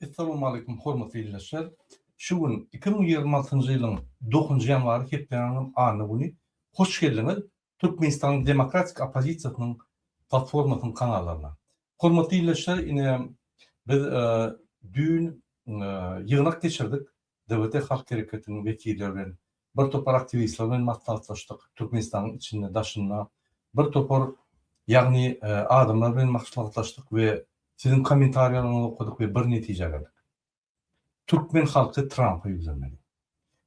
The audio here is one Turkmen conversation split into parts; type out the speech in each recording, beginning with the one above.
Essalamu Aleýkum hormatly ildeşler! Şu gün iki müň ýigrimi altynjy ýylyň dokuzynjy ýanwary hepdäniň anna güni. Hoş geldiňiz Türkmenistanyň demokratik oppozisiýasynyň platformasynyň kanallaryna. Hormatly ildeşler ine biz düýn ýygnak geçirdik DWT Halk Hereketiniň wekilleri bilen, bir topar aktiwistler bilen maslahatlaşdyk, Türkmenistanyň içinde, daşynda bir topar, ýagny, adamlar bilen maslahatlaşdyk we siziň kommentariýalaryňyzy okadyk we bir netijä geldik. Türkmen halky Trampa ýüzlenmeli.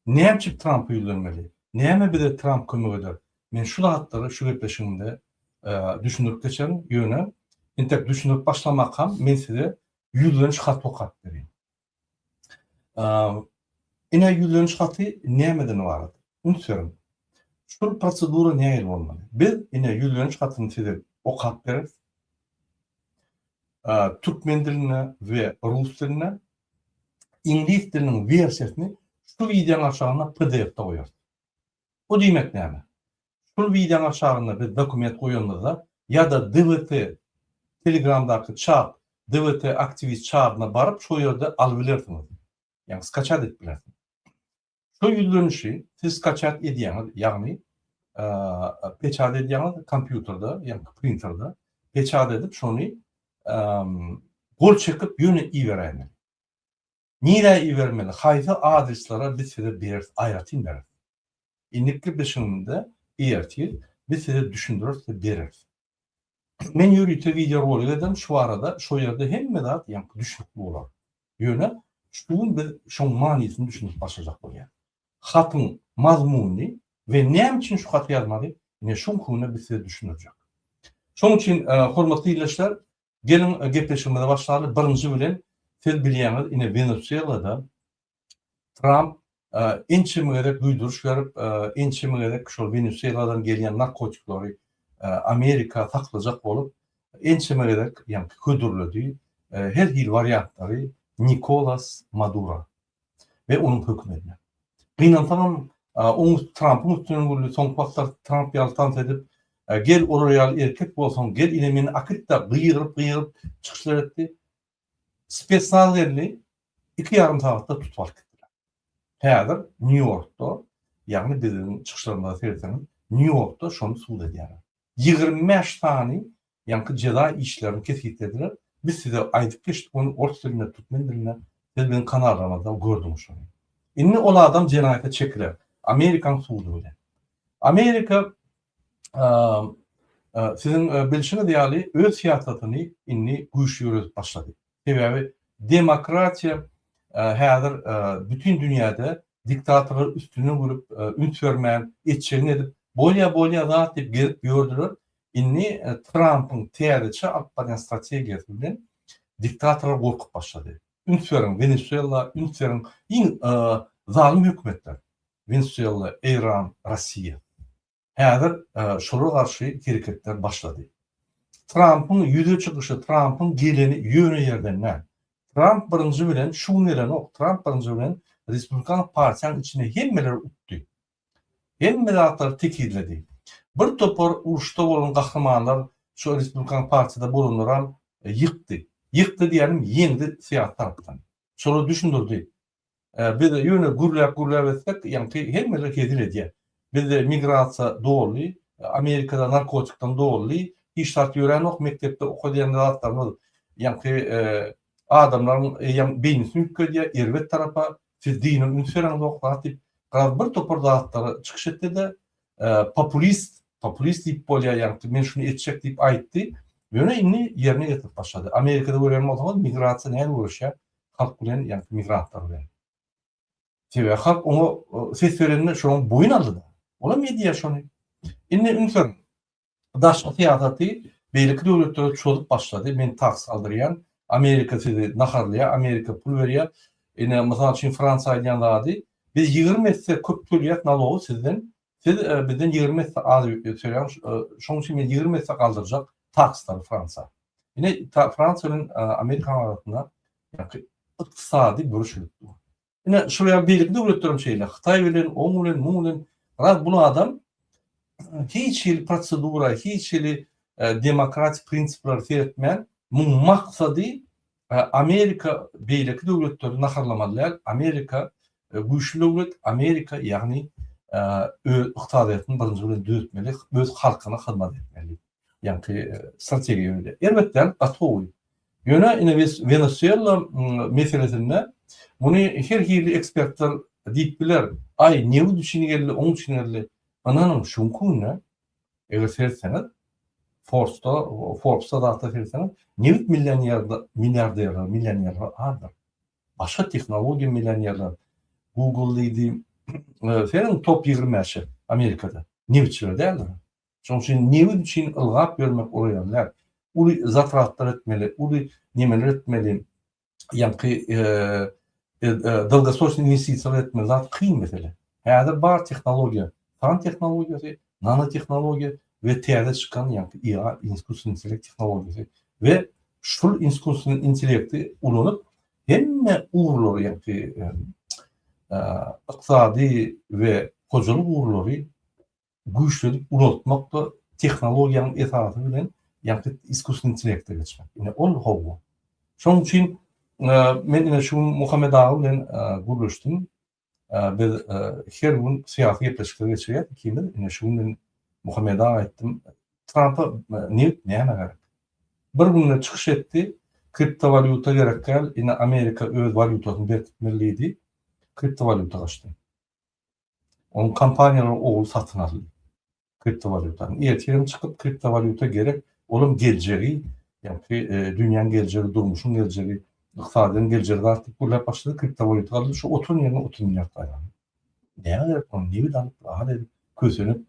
Näme üçin Trampa ýüzlenmeli? Näme bize Tramp kömek eder? Men şu zatlary şu gepleşigimde düşündirip geçerin, ýöne, entek düşündirip başlamakam men size ýüzleniş haty okap berýän. Ine ýüzleniş haty nämeden ybarat? Üns beriň. Şul prosedura nähili bolmaly? Biz ine ýüzleniş hatyny size okap bereris. Türkmen dilinde we rus dilinde. Iňlis diliniň wersiýasyny şu wideonyň aşagynda pdf-de goýarys. Bu diýmek näme? Şul wideoň aşagynda biz dokument goýanymyzda ýa-da DWT Telegramdaky çat DWT aktiwist çadyna baryp şo ýerde alyp bilersiňiz. Ýagny skaçat edip bilersiňiz. Şo ýüzlenişi siz skaçat edýäňiz, ýagny peçat edýäňiz kompýuterde ýa-da printerde peçat edip şony gol çekip ýöne iberäýmeli. Nirä ibermeli haýsy adreslara biz size bereris aýratyn bereris. Indiki bilşimde ertir biz size düşündireris we bereris. Men ýörite wideo rolik ederin şu barada şo ýerde hemme zat ýaňky düşnükli bolar. Ýöne şu gün biz şoň manysyny düşündirip başlajak bolýar. Hatyň mazmuny we näme üçin şu haty ýazmaly ine şoňky güne biz size düşündirjek. Şoň üçin hormatly ildeşler Geliň gepleşigimize başlaly. Birinji bilen siz bilýäňiz ine Wenesuelada Tramp ençeme gezek duýduryş berip, ençeme gezek şol Wenesueladan gelýän narkotiklary Amerika saklajak bolup ençeme gezek ýaňky hödürledi. Her hili wariantlary Nikolas Madura. we onuň hökümetine. Gynansaňam, oň üsti Trampyň üstünden güldi, soňky wagtlar Tramp ýaly tans edip, gel olar ýaly erkek bolsaň, gel ine meni akytda gygyryp-gygyryp çykyşlar etdi. Spesnaz geldi, iki ýarym sagatda tutup alyp gitdiler. Häzir Nýu-Ýorkda, ýagny biziň çykyşlarymyza seretseňiz, Nýu-Ýorkda şony subut edýärler. Ýigrimi bäş sany ýaňky jeza işlerini kesgitlediler. Biz size aýdyp geçdik ony ors dilinde, türkmen dilinde. Siz biziň kanallarymyzda gördüňiz şony. Indi ol adam jenaýata çekiler. Amerikanyň sudy bilen. Amerika siziň bilşiňiz ýaly öz syýasatyny indi güýçli ýöredip başlady. Sebäbi demokratiýa häzir bütin dünýäde diktatorlar üstünden gülüp, üns bermän, etjegini edip, bolýa bolýa zat diýip gezip ýördüler. Indi Trampyň täzeçe alyp barýan strategiýasy bilen diktatorlar gorkup başlady. Üns beriň Wenesuela, üns beriň iň zalym hökümetler Wenesuela, Eýran, Rossiýa. Häzir şolara garşy hereketler başlady. Trampyň ýüze çykyşy, Trampyň geleni ýöne ýerden däl. Tramp birinji bilen şu gün gelenok, Tramp birinji bilen Respublikan partiýanyň içinde hemmeleri utdy. Hemme zatlary tekizledi. Bir topar uruşda bolan gahrymanlar şu Respublikan partiýada bolanlaram ýykdy. Ýykdy diýýänim ýeňdi syýasy tarapdan. Şolar düşündirdi. Biz ýöne gürläp-gürläp etsek, ýaňky hemmeler hezil edýär. Bizde migrasiýa doly, Amerikada narkotikden doly, hiç zat ýöränok, mekdepde okadýan zatlarymyz ýaňky adamlaryň eýýäm beýnisini üýtgedýär, erbet tarapa, siz dine üns bereňzok zat diýip, garaz bir topar zatlary çykyş etdi-de, populist, populist diýip bolýar, ýaňky men şuny etjek diýip aýtdy, ýöne indi ýerine ýetirip başlady. Amerikada görýän bolsaňyz, migrasiýa nähili göreşýär, halk bilen ýa migrantlar bilen. Sebäbi halk oňa ses berende şoň boýun aldy-da. Olam edýär şony. Indi ünsüň daşky syýasaty beýleki döwletlere çozup başlady. Men tax saldyrýan, Amerika sizi naharlaýar, Amerika pul berýär. Ine, mysal üçin Fransiýa aýdýan zady, biz ýigrimi esse köp tölýäs nalogy sizden, Siz bizden ýigrimi esse az ýük ýetişirýäň, şonuň üçin men ýigrimi esse galdyrjak takslary Fransiýa. Ine Fransiýa bilen Amerikanyň arasynda ykdysady bürüşilik dur. Ine şol ýaly beýleki döwletler hem şeýle, Hytaý bilen, oň bilen, muň bilen, raz bul adam hiç hili prosedura, hiç hili demokratik prinsiplere seretmän, muň maksady Amerika beýleki döwletleri naharlamaly däl, Amerika güýçli döwlet, Amerika ýagny öz ykdysadyýetini birinji bilen düzetmeli, öz halkyna hyzmat etmeli ýaňky strategiýa öýde. Erbet däl, gaty gowy. Ýöne ine biz Wenesuela meselesinde muny her hili ekspertler diýip biler, aý nebit üçin geldi, oň üçin geldi. Ynanyň şuňkuny Eger seretseňiz, Forbes-da, Forbes-da zatda seretseňiz, nebit millionerler, milliarderler, millionerler azdyr. Başga tehnologiýa millionerler, Google diýdi, seniň top ýigrimi bäşi Amerikada, nebitçiler däldir. Şonuň üçin nebit üçin ylgap ýörmek olar ýaly däl. Uly zatratlar etmeli, uly nemeler etmeli, ýaňky dolgosroçnyý inwestisiýalar etmek zat kyn mesele. Häzir bar tehnologiýa, fan tehnologiýasy, nanotehnologiýa we täze çykan ýaňky IA, iskusniý intellekt tehnologiýasy we şul iskusniý intellekti ulanyp, hemme ugurlary, ýaňky ykdysady we hojalyk ugurlary güýçlenip ulaltmakda tehnologiýanyň esasy bilen ýa-da iskusny intellekte geçmek. Ine ol howwa. Şonuň üçin men ine şu gün Muhammet aga bilen gürleşdim. Biz her gün syýasy gepleşikler geçirýäs ikimiz. Ine şu gün men Muhammet aga aýtdym, Trampa nebit näme gerek? Bir günde çykyş etdi, kriptowalýuta gerek däl, ine Amerika öz walýutasyny berkitmeli diýdi, kriptowalýuta gaçdy. Onuň kompaniýalary ogul satyn aldy kriptowalýutany. Ertirem çykyp kriptowalýuta gerek, olam geljegi, ýagny dünýäň geljegi, durmuşyň geljegi, ykdysadyýetiň geljegi zat diýip gürläp başlady, kriptowalýuta galdy, şu oturan ýerinde otuz milliard gaýrany. Nämä gerek muny nebit alyp, zat edip, kösenip,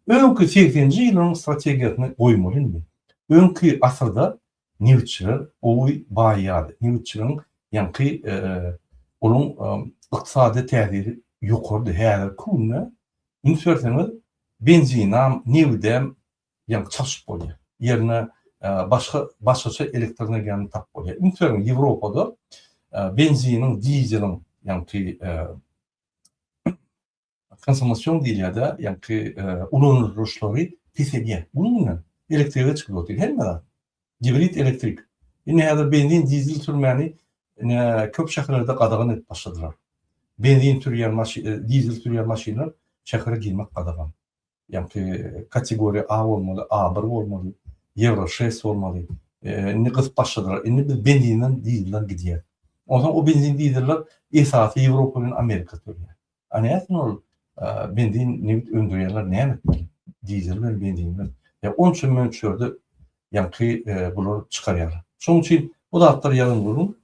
öňki segseninji ýyllaryň strategiýasyny goýmaly indi. Öňki asyrda nebitçiler gowy baýýardy. Nebitçiligiň ýaňky onuň ykdysady täsiri ýokarydy. Häzirki günde üns berseňiz, benzinam, nebidem ýaňky çalşyp bolýar. Ýerine başga başgaça elektroenergiýany tapyp bolýar. Üns beriň, Ýewropada benziniň, dizeliň ýaňky Konsomasion diýilýär-de, ýagky ulanylyşlary peselýär. Munuň bilen elektrige çykyp otyr hemme zat. Gibrid elektrik. Indi häzir benzin, dizel sürmäni ine köp şäherlerde gadagan edip başladylar. Benzin sürýän maşyn, dizel sürýän maşynlar şähere girmek gadagan. Ýagty kategoriýa A bolmaly, A-bir bolmaly, Ýewro şest bolmaly. Indi gyzyp başladylar. Indi biz benzinden dizelden gidýäs. Onsoň o benzin dizeller esasy Ýewropa bilen Amerika sürýär. A nätsin ol benzin nebit öndürýänler näme etmeli? Dizel bilen benzin bilen. Ýa onça möçberde ýagty bular çykarýarlar. Şonuň üçin bu zatlar ýazyn gürrüň.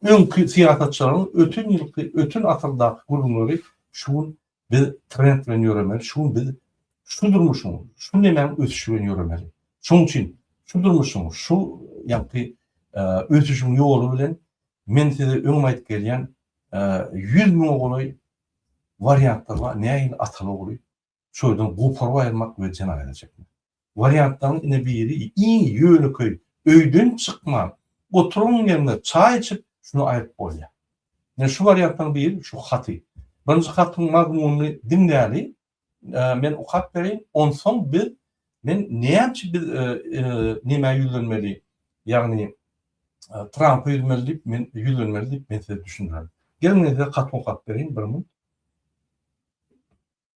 Öňki syýasatçylaryň öten ýylky, öten asyrdaky gürrüňleri şu gün Biz trend bilen ýöremeli, şu gün biz şu durmuşyň, şu nemäň ösüşi bilen ýöremeli. Şonuň üçin şu durmuşyň, şu ýagty ösüşiň ýoly bilen men size öňem aýdyp gelýän ýüz müňe golaý wariantlar bar, nähili ataly-ogly şu ýerden goparyp aýyrmak we jenaýata çekmek. Wariantlaryň ine biri iň ýönekeý, öýden çykman, oturan ýeriňde çaý içip, şuny aýryp bolýar. Ine şu wariantlaryň biri şu haty. Birinji hatyň mazmunyny diňläli, men okap bereýin, onsoň biz men näme biz nämä ýüzlenmeli, ýagny Trampa ýüzmeli diýip, men ýüzlenmeli diýip, men size düşündirerin. Geliň men size haty okap bereýin, bir minut.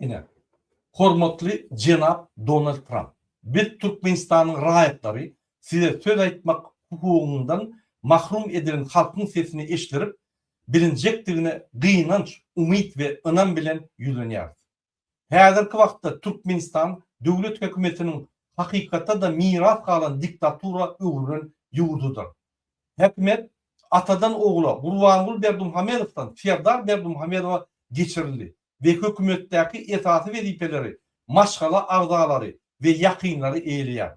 Ine, hormatly jenap Donald Tramp, biz Türkmenistanyň raýatlary size söz aýtmak hukugyndan mahrum edilen halkyň sesini eşdirip bilinjekdigine gynanç, umyt we ynam bilen ýüzlenýäris. Häzirki wagtda Türkmenistan döwlet hökümetiniň hakykatda-da miras galan diktatura öwrülen ýurdudyr. Häkimiýet atadan ogla Gurbanguly Berdimuhamedowdan Serdar Berdimuhamedowa geçirildi we hökümetdäki esasy wezipeleri maşgala agzalary we ýakynlary eýeleýär.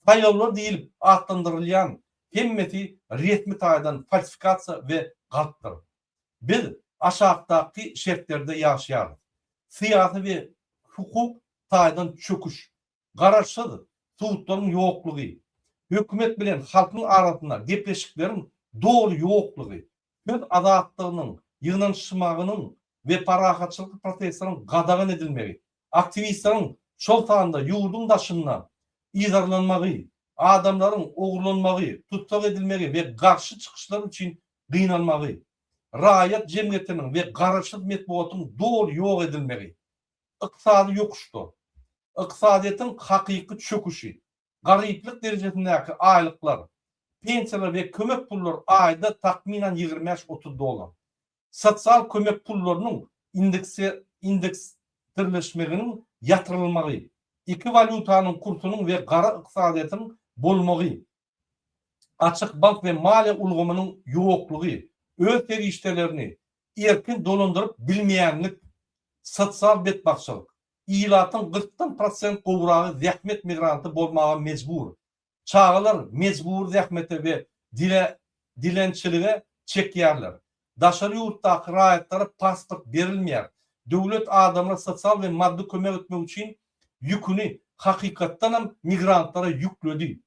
Saýlawlar diýlip atlandyrylýan hemmesi resmi taýdan falsifikasiýa we galpdyr. Biz aşakdaky şertlerde ýaşaýarys, syýasy we hukuk taýdan çöküş, garaşsyz sudlaryň ýoklugy, hökümet bilen halkyň arasynda gepleşikleriň doly ýoklugy, söz azatlygynyň, ýygnanyşmagynyň we parahatçylykly protestleriň gadagan edilmegi, aktiwistleriň, şol sanda ýurduň daşynda yzarlanmagy, adamlaryň ogurlanmagy, tussag edilmegi we garşy çykyşlar üçin gynalmagy, raýat jemgyýetiniň we garaşsyz metbugatyň doly ýok edilmegi, ykdysady ýokuşda, ykdysadyýetiň hakyky çöküşi, garyplyk derejesindäki aýlyklar, pensiýalar we kömek pullar aýda takmynan ýigrimi bäş, otuz dollar, sosial kömek pullarynyň indeksdirleşmeginiň ýatyrylmagy, iki walýutanyň kursunyň we gara ykdysadyýetiň bolmagy açyk bank we maliýe ulgamynyň ýoklugy, öz serişdelerini erkin dolandyryp bilmeýänlik, sosial betbagtçylyk, ilatyň gyrkdan prosent gowragy zähmet migranty bolmaga mejbur, çagalar mejbury zähmete we dilençilige çekýärler, Daşary ýurtdaky raýatlara pasport berilmeýär. Döwlet adamlara sosial we maddy kömek etmek üçin ýüküni hakykatdanam migrantlara ýükledi.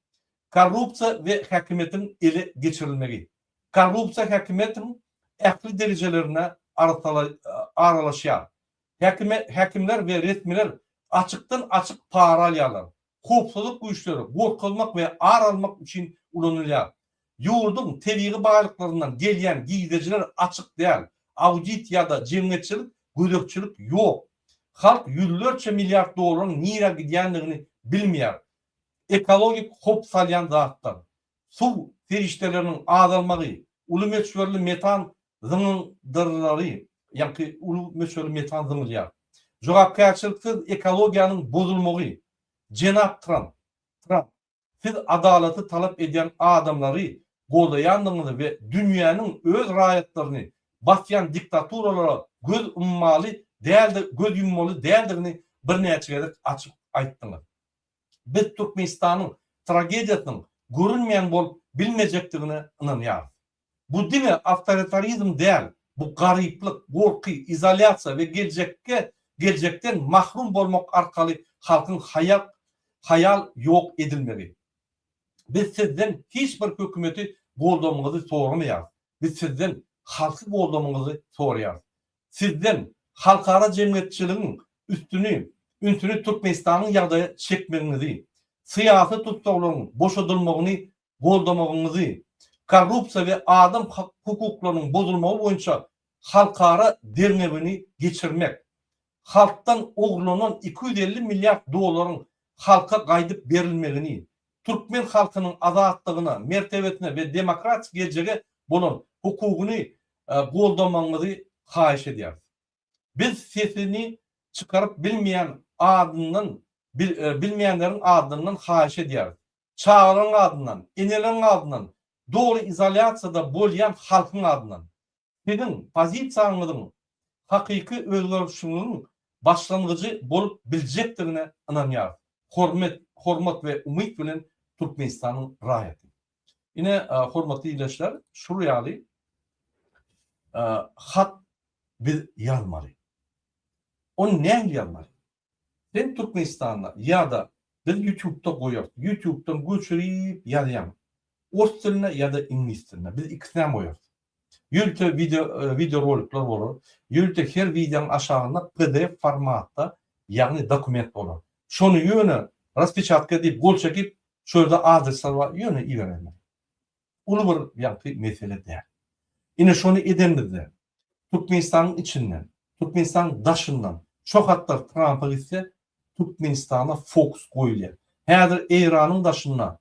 Korrupsiýa we häkimiýetiň ele geçirilmegi. Korrupsiýa häkimiýetiň ähli derejelerine aralaşýar. Häkime, häkimler we resmiler açykdan-açyk para alýarlar. Howpsuzlyk güýçleri gorkuzmak we ar almak üçin ulanylýar. Ýurduň tebigy baýlyklaryndan gelýän girdejiler açyk däl, audit ýa-da jemgyýetçilik gözegçilik ýok. Halk ýüzlerçe milliard dollaryň nirä gidýändigini bilmeýär. Ekologik howp salýan zatlar. Suw serişdeleriniň azalmagy, uly möçberli metan zyňyndyrylary, ýaňky uly möçberli metan zyňylýar. Jogapkärçiliksiz ekologiýanyň bozulmagy, jenap Tramp, Tramp, siz adalaty talap edýän adamlary goldaýandygyňyzy we dünýäniň öz raýatlaryny basýan diktaturalara göz ummaly däldi, göz ýummaly däldigini birnäçe gezek açyk aýtdyňyz. Biz Türkmenistanyň tragediýasynyň görünmeýän bolup bilmejekdigine ynanýarys. Bu diňe awtoritarizm däl, bu garyplyk, gorky, izolýasiýa we geljekge geljekden mahrum bolmak arkaly halkyň haýak haýal ýok edilmegi. Biz sizden hiç bir hökümeti goldamyňyzy soramaýarys. Biz sizden halky goldamyňyzy soraýarys. Sizden halkara jemgyýetçiligiň üstüni ünsüni Türkmenistanyň ýagdaýa çekmegiňizi, syýasy tussaglaryň boşadylmagyny goldamagyňyzy, korrupsiýa we adam hukuklarynyň bozulmagy boýunça halkara derňewini geçirmek, halkdan ogurlanan iki ýüz elli milliard dollaryň halka gaýdyp berilmegini, türkmen halkynyň azatlygyna, mertebesine we demokratik geljege bolan hukugyny goldamagyňyzy haýyş edýäris. Biz sesini çykaryp bilmeýän adyndan bilmeýänleriň adyndan haýyş edýäris. çagalaryň adyndan, eneleriň adyndan, dogry izolýasiýada bolýan halkyň adyndan. Siziň pozisiýaňyzyň hakyky özgerişiňiziň başlangyjy bolup biljekdigine ynanýarys. Hormet, hormat we umyt bilen Türkmenistanyň raýaty. Ine, hormatly ildeşler, şul ýaly hat biz ýazmaly. Ony nähili ýazmaly? Sen Türkmenistanda ýada biz ýutubda goýarys ýutubdan göçürip ýazýaň ors dilinde ýada iňlis dilinde biz ikisinem goýarys ýörite wideo wideorolikler bolar ýörite her wideoň aşagynda pdf formatda ýagny dokument bolar şony ýöne raspechatke diýip gol çekip şu ýerde adresler bar ýöne iberenler uly bir ýagty mesele däl ine şony edenimizde Türkmenistanyň içinden, Türkmenistanyň daşyndan şo hatlar Trampa gitse, Türkmenistana fokus goýulýar. Häzir Eýranyň daşynda,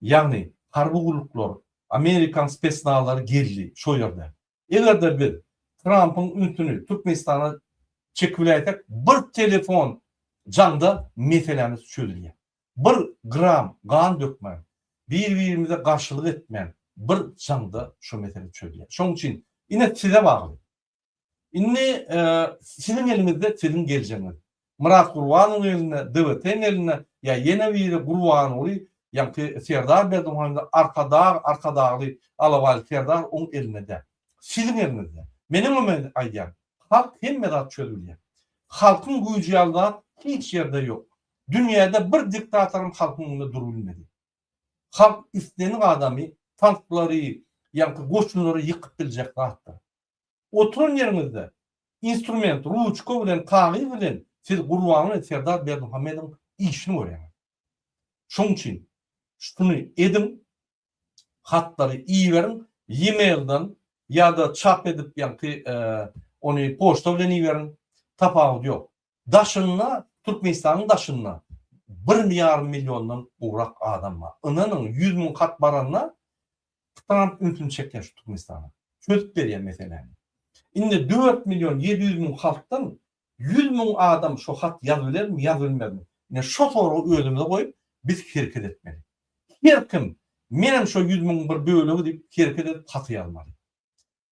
ýagny harby gulluklar, amerikan spesnazlary gizli şo ýerde. Eger-de biz Trampyň ünsüni Türkmenistana çekibiläýsek, bir telefon jaňda meselämiz çözülýär. Bir gram gan dökmän, bir-birimize garşylyk etmän bir jaňda şu mesele çözýär. Şonuň üçin ine size bagly. Indi siziň eliňizde siziň geljegiňiz. Myrat Gurbanowyň elinde, DWT-niň elinde ýa ýene biri Gurbanguly ýaňky Serdar Berdimuhamedow Arkadag, Arkadagly alabaýly Serdar oň elinde däl. Siziň eliňizde. Men öňem aýdýan, halk hemme zat çözüp bilýär. Halkyň güýji ýaly zat hiç ýerde ýok. Dünýäde bir diktatoram halkyň öňünde durubilmedi. Halk islenik adamy tanklary ýaňky goçunlary ýykyp biljek zatdyr. Oturan ýeriňizde instrument, ruçka bilen kagyz bilen siz Gurbanguly Serdar Berdimuhamedowyň işini görýäňiz. Şoň üçin şuny ediň, hatlary iberiň ýimeilden ýada çap edip ýaňky ony poçta bilen iberiň tapawudy ýok daşynda türkmenistanyň daşynda bir ýarym milliondan gowrak adam bar ynanyň ýüz müň hat baranda tramp ünsüni çekýär şu türkmenistana çözüp berýär meseläni indi dört million ýedi ýüz müň halkdan Ýüz müň adam şo hat ýazybilermi, ýazybilmezmi? Ine, şo soragy özümize goýup, biz hereket etmeli. Her kim, Menem şo ýüz müňiň bir bölegi diýip, hereket edip haty ýazmaly.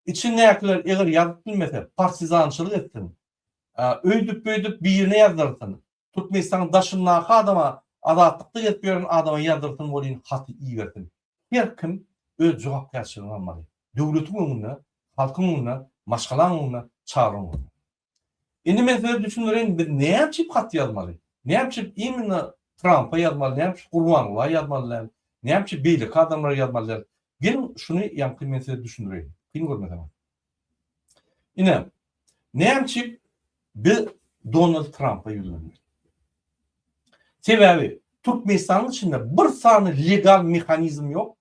Içindäkiler eger ýazyp bilmese, partizançylyk etsin. Öýdüp-beýdüp birine ýazdyrsyn. Türkmenistanyň daşyndaky adama azatlykda gezip ýören adama ýazdyrsyn welin haty ibersin. Her kim öz jogapkärçiligini almaly. Döwletiň öňünde, halkyň öňünde, maşgalaň öňünde, çagaň öňünde. Indi men size düşündireýin biz näme üçin hat ýazmaly? Näme üçin imенно Trampa ýazmaly, näme üçin Gurbanguly'a ýazmaly däl, näme üçin beýleki adamlara ýazmaly däl? Geliň şuny ýaňky men size düşündireýin. Kyn görmeseňiz. Ine, näme üçin biz Donald Trampa ýüzlenmeli? Sebäbi Türkmenistanyň içinde bir sany legal mehanizm ýok,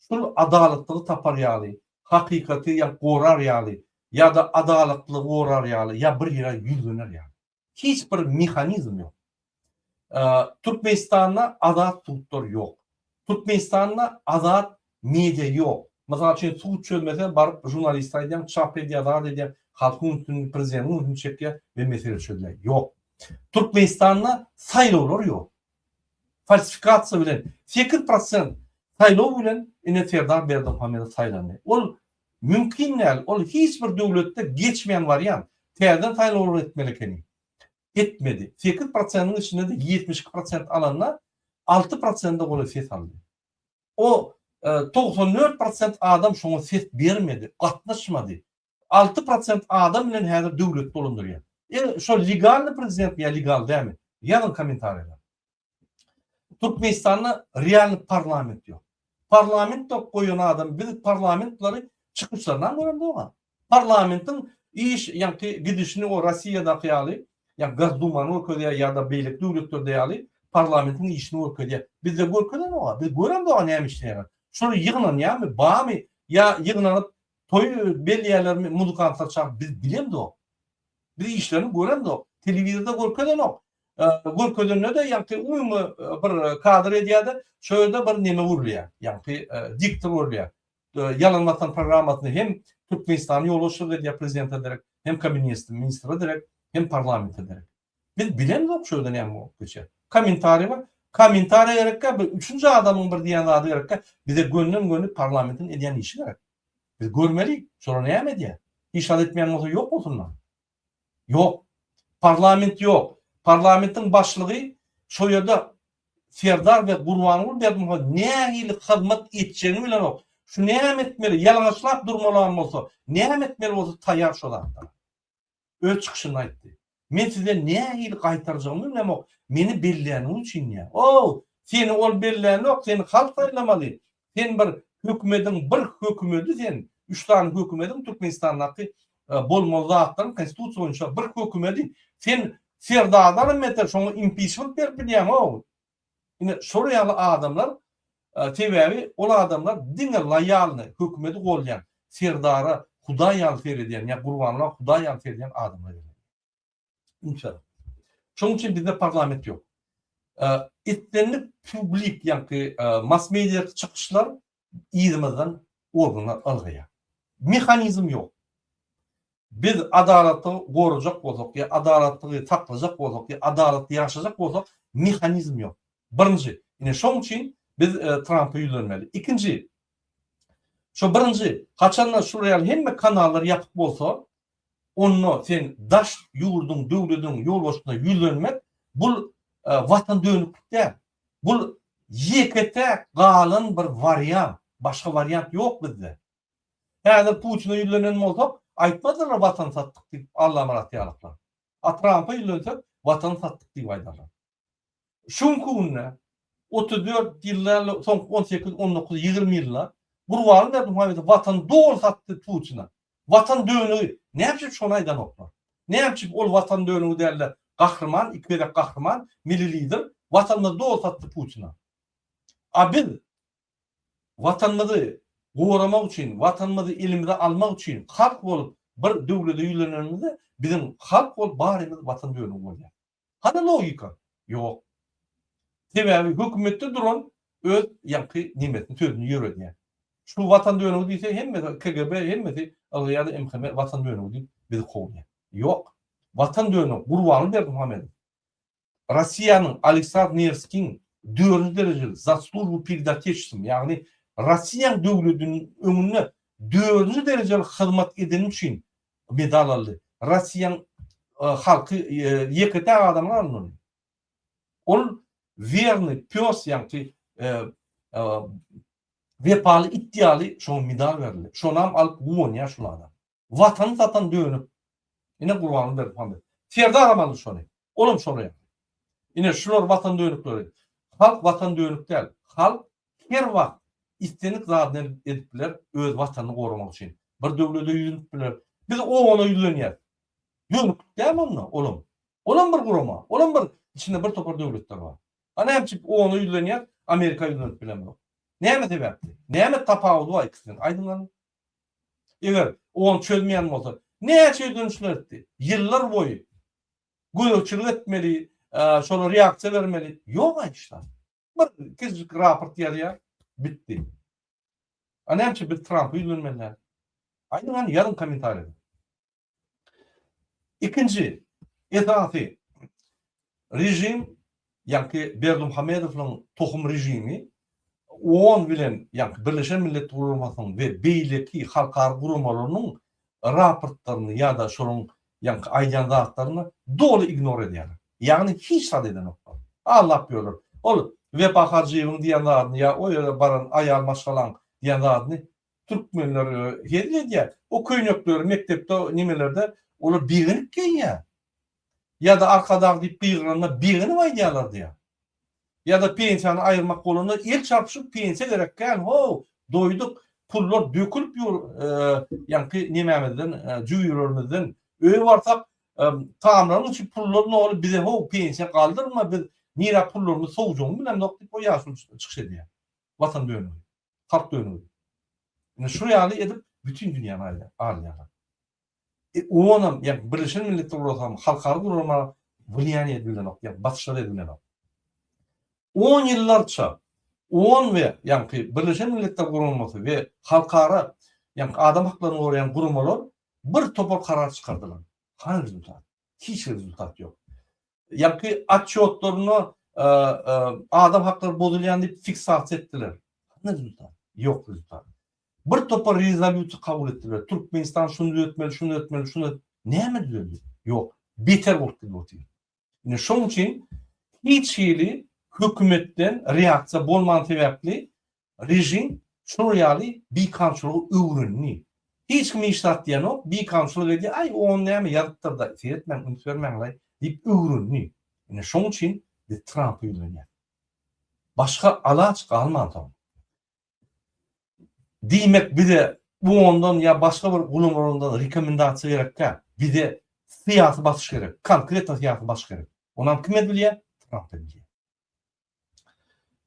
şol adalatlygy tapar ýaly, hakykaty gorar ýaly ýa-da adalatlylygy gorar ýaly ýa bir ýere ýüzlener ýaly. Hiç bir mehanizm ýok. Türkmenistanda azat sudlar ýok. Türkmenistanda azat media ýok. Mysal üçin sud çözmese baryp žurnaliste aýdýaň çap edýär zat edýär halkyň ünsüni prezidentiň ünsüni çekýär we mesele çözülýär. Ýok. Türkmenistanda saýlawlar ýok. Falsifikasiýa bilen sekiz prosent saýlaw bilen ine Serdar Berdimuhamedow saýlandy. Ol Mümkin däl, ol hiç bir döwletde geçmeýän wariant. Täzeden saýlawlar etmeli ekeni. Etmedi. Sekiz prosentiň içinde-de ýetmiş iki prosent alanda, alty prosende golaý ses aldy. O togsan dört prosent adam şoňa ses bermedi, gatnaşmady. Alty prosent adam bilen häzir döwleti dolandyrýar. Ine, şol legalny prezidentmi ýa legal dälmi? Ýazyň kommentariýalara. Türkmenistanda realny parlament ýok. Parlament ýok goýan adam biz parlamentleri çykyşlaryndan gören dogam. Parlamentiň iş ýaňky gidişini o Rossiýadaky ýaly, ýa Gazduman görkezýär ýa-da beýleki döwletlerde ýaly parlamentiň işini görkezýär. Bizde görkezen dogam. Biz gören dogam näme işleýär. Şular ýygnanýarmy, bamy ýa ýygnanyp toý belleýärlermi, muzykantlar çagyryp biz bilemzok. Biz işlerini göremzok. Telewizorda görkezenok. görkezende-de ýagty umumy bir kadr edýär-de, şo ýerde bir neme gurulýar, ýagty diktor gurulýar. Ýalan watan programmasyny hem Türkmenistanyň ýolbaşçylygy edýär, prezidente derek, hem kabinetde ministre derek, hem parlamente derek. Biz bilemzok şo ýerde näme bolup geçýär. Kommentariý bar. Kommentariý gerekkä, bir üçünji adamyň bir diýen zady gerekkä, bize gönden-göni parlamentiň edýän işi gerek. Biz görmeli, şolar näme edýär. Hiç zat etmeýän bolsa ýok bolsunlar. Ýok. Parlament ýok. Parlamentiň başlygy şo ýerde Serdar we Gurbanguly Berdimuhamedov nähili hyzmat etjegini bilenok. Şu näme etmeli, ýalaňaçlap durmalam bolsa, näme etmeli bolsa taýýar şo zatda. Öz çykyşynda aýtdy. Men size nähili gaýtarjagymy bilemok, meni belläniň üçin diýýär. Ow, seni ol bellänok, seni halk saýlamaly, Sen bir hökümediň bir hökümedi sen üç sany hökümediň Türkmenistandaky bolmaly zatlaryň konstitusiýa boýunça bir hökümedi sen serdardan beter şoňa impiçment berip bilýäňow ine şolar ýaly adamlar sebäbi ol adamlar diňe loýalny hökümedi golýan serdara hudaý ýaly seredýän ýa gurbanla hudaý ýaly seredýän adamlar. Uçar. Şoň üçin bizde parlament ýok. Etlenlik publik, ýagny mass-media çykyşlar yzymyzdan organlar ylgaýar. Mehanizm ýok. Biz adalatly gorajak bolsak, ýa adalatly saklajak bolsak, ýa adalatly ýaşajak bolsak, mehanizm ýok. Birinji, ine şoň üçin biz Trampa ýüzlenmeli. Ikinji, şu birinji, haçanda şu real hemme kanallar ýapyk bolsa, Onda sen daş ýurduň döwlediň ýolbaşçysyna ýüzlenmek bul watan dönüklik däl. Bul ýeke täk galan bir wariant. Başga wariant ýok bizde. Häzir Putine ýüzlenen bolsak aýtmazdylar watan satdyk diýip Allamyrat ýalyklar. A Trampa ýüzlensek watan satdyk diýip aýdarlar. Şu günki günde otuz dört ýyldan soňky on sekiz, on dokuz, ýigrimi ýylda Gurbanguly Berdimuhamedow Watany doly satdy Putina. Watan dönügi. Näme üçin şony aýdanoklar? Näme üçin ol Watan dönügi dälde gahryman, iki gezek gahryman, milli lider Watanymyzy doly satdy Putina. A biz Watanymyzy goramak üçin, Watanymyzy elimize almak üçin halk bolup bir döwlete ýüzlenenimizde biziň halk bolup barymyz Watan dönügi bolýar. Hany logika? Ýok. Sebäbi hökümetde duran öz ýaňky nemesini sözüni ýöredýär. Şu watan dönügi diýse hemmesi KGB hemmesi ylga ýa-da MHM watan dönügi diýip bizi kowýar. Ýok. Watan dönügi Gurbanly Berdimuhamedow. Rossiýanyň Aleksandr Newskiň dördünji derejeli za slujbu pered Otechestvom ýagny Rossiýanyň döwlediniň öňünde dördünji derejeli hyzmat edenim üçin medal aldy. Rossiýanyň halky ýeke-täk adamlar aldy ony. Ol werny pes ýaňky wepaly it ýaly şoňa medal berildi. Şonam alyp guwanýar şul adam. Watany satan dönük. Ine Gurbanguly Berdimuhamedow. Serdar aldy şony. Olam şony etdi. Ine şular watan dönükleri. Halk watan dönük däl. Halk her wagt islendik zadyny edip biler öz watanyny goramak üçin. Bir döwlede ýüzlenip biler. Biz ogana ýüzlenýäs. Dönüklik dämi onda olam. Olam bir gurama. Olam bir içinde bir topar döwletler bar. A näme üçin ogana ýüzlenýäs, Amerika ýüzlenip bilemzok. Näme sebäpli? Näme tapawudy bar ikisiniň? Aýdyň görüm. Eger ogan çözmeýän bolsa, näçe ýüzlenişler etdi. Ýyllar boýy gözegçilik etmeli, şolar reaksiýa bermeli. Ýok aýdyşlar. Bir kiçijik raport ýazýar, bitdi. A näme biz Trampa ýüzlenmeli? Aýdyň hany ýazyň kommentariýada. Ikinji esasy režim Ýaňky Berdimuhamedowyň tohum režimi on bilen ýaňky Birleşen Millet Guramasynyň we beýleki halkara guramalarynyň raportlaryny ýa-da şolaryň ýaňky aýdýan zatlaryny doly ignor edýärler. Ýagny hiç zat edenoklar. Aglap ýörler. Ol Wepa Hajyýewiň diýen zadyny ýa o ýere baran aýal maşgalaň diýen zadyny türkmenler hezil edýär. O köýnekleri mekdepde nemelerde olar begenip geýýär. Ýa-da Arkadag diýip gygyranda begenip aýdýarlar diýýär. Ýa-da pensiýany aýyrmak bolanda el çarpyşyp pensiýa gerek kän how, doýduk, pullar dökülip ýur ýaňky nemämizden, jübülerimizden, öýe barsak tamlaryň içi pullar noly bize how pensiýa galdyrma biz nirä pullarymyz sowjagyny bilemzok diýip o ýaşuly çykyş edýär. Watan dönügi, halk dönügi. Indi şu ýaly edip bütin dünýäni alýarlar. E onam, ýagny Birleşen Milletler Gurasam, halkara gurama wlýaniýe edip bilenok, ýagny basyşlar edip bilenok. On ýyllarça on we ýagny Birleşen Milletler Guramasy we halkara ýagny adam haklaryny goraýan guramalar bir topar karar çykardylar. Hany rezultat? Hiç bir rezultat ýok. Ýaňky otçýotlarynda adam haklary bozulýan diýip fiksasiýa etdiler. Ýok rezultat. Bir topar rezolýusiýa kabul etdiler. Türkmenistan şuny düzetmeli, şuny düzetmeli, şuny näme düzeldi? Ýok. Beter bolup gidip otyr. Ine şoň üçin hiç hili hökümetden reaksiýa bolman sebäpli Režim şular ýaly bikamçylygy öwrendi. Hiç kim hiç zat diýenok, bikamçylyk edýär, aý ony näme ýazypdyr-da, seretmäň, üns bermäň-laý diýip öwrendi. Ine şoň üçin biz Trampa ýüzlenýäs. Başga alaç galmansoň. Diýmek bize UON-dan ýa başga bir gulamalardan rekomendasiýa gerek däl. Bize syýasy basyş gerek, konkretno syýasy basyş gerek. Onam kime bilýär? Trampa bilýär.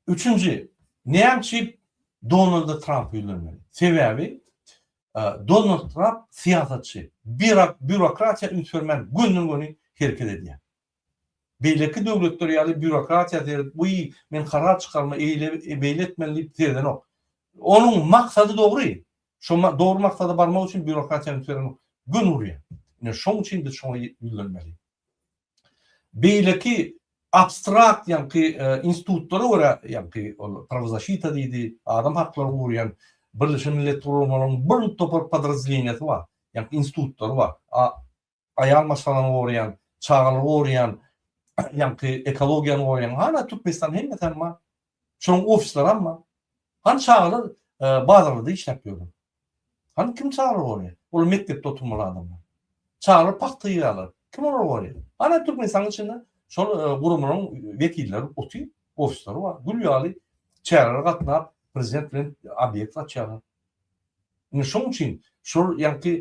Üçünji, näme üçin Donald Tramp ýüzlenmeli? Sebäbi Donald Tramp syýasatçy, birak bürokratiýa üns bermän gönden-göni hereket edýär. Beýleki döwletler ýaly bürokratiýa seredip, bu men karar çykarma, eýle beýle etmeli diýip seredenok. Onuň maksady dogry. Şu dogry maksada barmak üçin bürokratiýa üns bermek gön urýar. Ine şoň üçin biz şoňa ýüzlenmeli. Beýleki abstrakt ýaňky institutlara görä, ýaňky ol prawozaşita diýdi, adam haklaryny goraýan Birleşen Millet Guramalarynyň bir topar podrazdeleniýasy bar, ýaňky institutlary bar. Aýal maşgalany goraýan, çagalary goraýan, ýaňky ekologiýany goraýan, hana Türkmenistanda hemmesi hem bar. Şoň ofislaram bar. Han çagalar bazarlarda işläp ýörler. Han kim çagalar gorýar? Olar mekdepde oturmaly adamlar. Çagalar pagta ýygýarlar. Kim olar gorýar? Hana Türkmenistanyň içinde şol guramalaryň wekilleri otyr, ofislary bar. Gül ýaly çärelere gatnap, prezident bilen obýekt açýarlar. Indi şonuň üçin şol ýaňky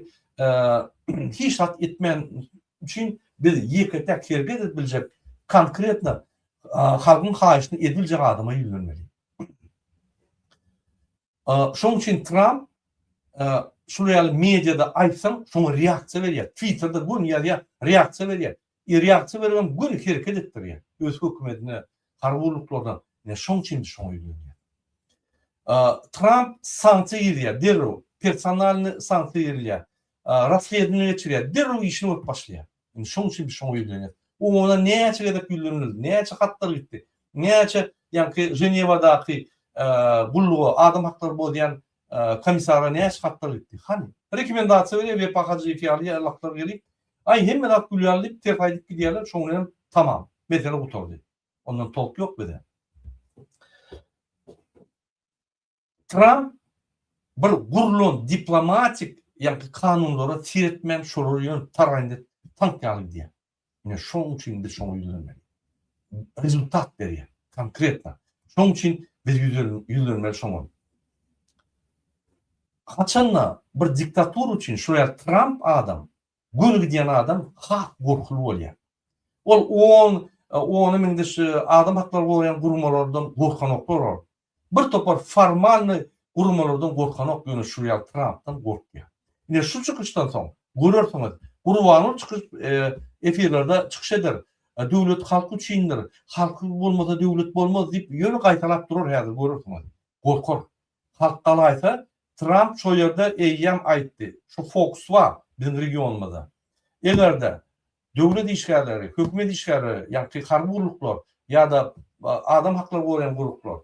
hiç zat etmän üçin biz ýeke-täk hereket edip biljek konkretno halkyň haýyşyny edip biljek adama ýüzlenmeli. Şonuň üçin Tramp şular ýaly mediada aýtsaň şoňa reaksiýa berýär. Twitterda göni ýazýar, reaksiýa berýär. Ir ýagty beribem göni hereket etdirýär. Öz hökümedine, harby gulluklaryna ine şoň üçin indi şoňa ýüzlenýär. Tramp sanksiýa gizýär derrew, personalny sanksiýa girilýär. Rasledowaniýa geçirýär, derrew işini görüp başlaýar. Indi şoň üçin biz şoňa ýüzlenýäs. Oňuna näçe gezek ýüzlenildi, näçe hatlar gitdi, näçe ýaňky Ženewadaky gulluga, adam haklary bozýan Komissara näçe hatlar gitdi? Hany? Rekomendasiýa berýär Wepa Hajyýew ýaly ýaýlaklar gelip, Aý, hemme zat gül ýaly diýip, ters aýdyp gidýärler, şoň bilenem tamam. Mesele gutardy. Ondan tolk ýok bize. Tramp bir gurlan diplomatik ýa-da kanunlara seretmän, şolar ýöne taraýynda tank ýaly gidýär. Ine, şonuň üçin biz şoňa ýüzlenmeli. Rezultat berýär, konkretno. Şonuň üçin biz ýüzlenmeli şoňa. Haçan-da bir diktatura üçin şu ýer Tramp adam, göni gidýän adam has gorkuly bolýar. Ol on, ony minde şu adam haklaryny goraýan guramalardan gorkanoklar ol. Bir topar formalny gurmalardan gorkanok ýöne şu real trampdan gorkýar. Ine şu çykyşdan soň görersiňiz Gurbanguly çykyş efirlerde çykyş eder döwlet halk üçindir halky bolmasa döwlet bolmaz diýip ýöne gaýtalap durar häzir görersiňiz gorkar halk galaýsa Tramp şo ýerde eýýäm aýtdy şu fox bar biziň regionymyzda egerde Döwlet işgärleri, hökümet işgärleri, ýagty harby gulluklar ýa-da adam haklaryny goraýan gulluklar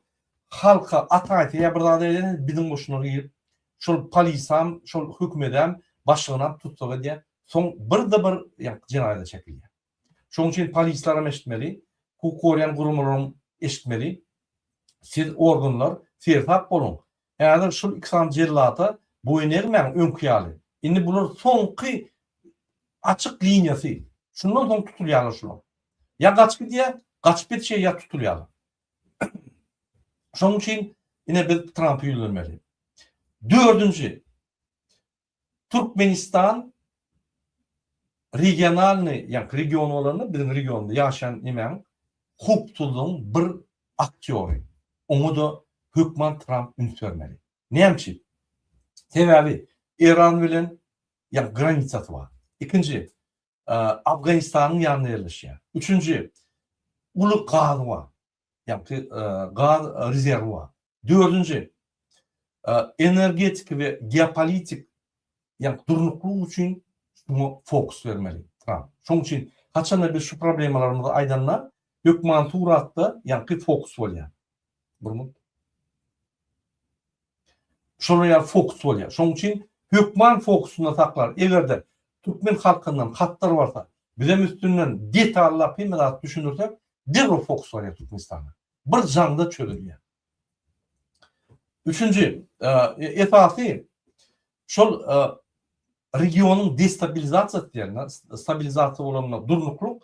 halka ata aýtsa ýa bir zat edene biziň goşunlar girip şol polisam, şol hökümedem, başlygnam tussag edýär. Soň birde bir ýagty jenaýada çekilýär. Şoň üçin polislaram eşitmeli, hukuk goraýan guramalaram eşitmeli. Siz organlar seresap boluň. Häzir şul iki sany jellata boýun egmäň öňki ýaly. Indi bular soňky açyk liniýasy. Şundan soň tutulýarlar şular. Ýa gaç gidýär, gaçyp ýetişýär ýa tutulýarlar. Şonuň üçin ine biz Trampy ýüzlenmeli. Dördünji. Türkmenistan regionalnyý, ýagny region bolanda biziň regionda ýaşaýan nemäň howpsuzlygyň bir aktýory. Oňa-da hökman Tramp üns bermeli. Näme üçin? Sebäbi Eýran bilen ýagny granisasy bar. Ikinji, Afganistanyň ýanynda ýerleşýär. Üçünji, uly gazy bar. ýagty gaz rezerwi bar. Dördünji, energetiki we geopolitik, ýagny durnuklyk üçin şuňa fokus bermeli Tramp. Şoň üçin haçanda biz şu problemalarymyzy aýdanda, hökman suratda ýagny fokus bolýar. Burma. Şolar ýaly fokus bolýar. Şonuň üçin hökman fokusynda saklar. Eger-de türkmen halkyndan hatlar barsa, bizem üstünden detallap hemme zat düşündirsek, derrew fokus barýar Türkmenistana. Bir jaňda çözülýär. Üçünji, esasy şol regionyň destabilizasiýasy diýen, stabilizasiýa bolanda durnuklyk,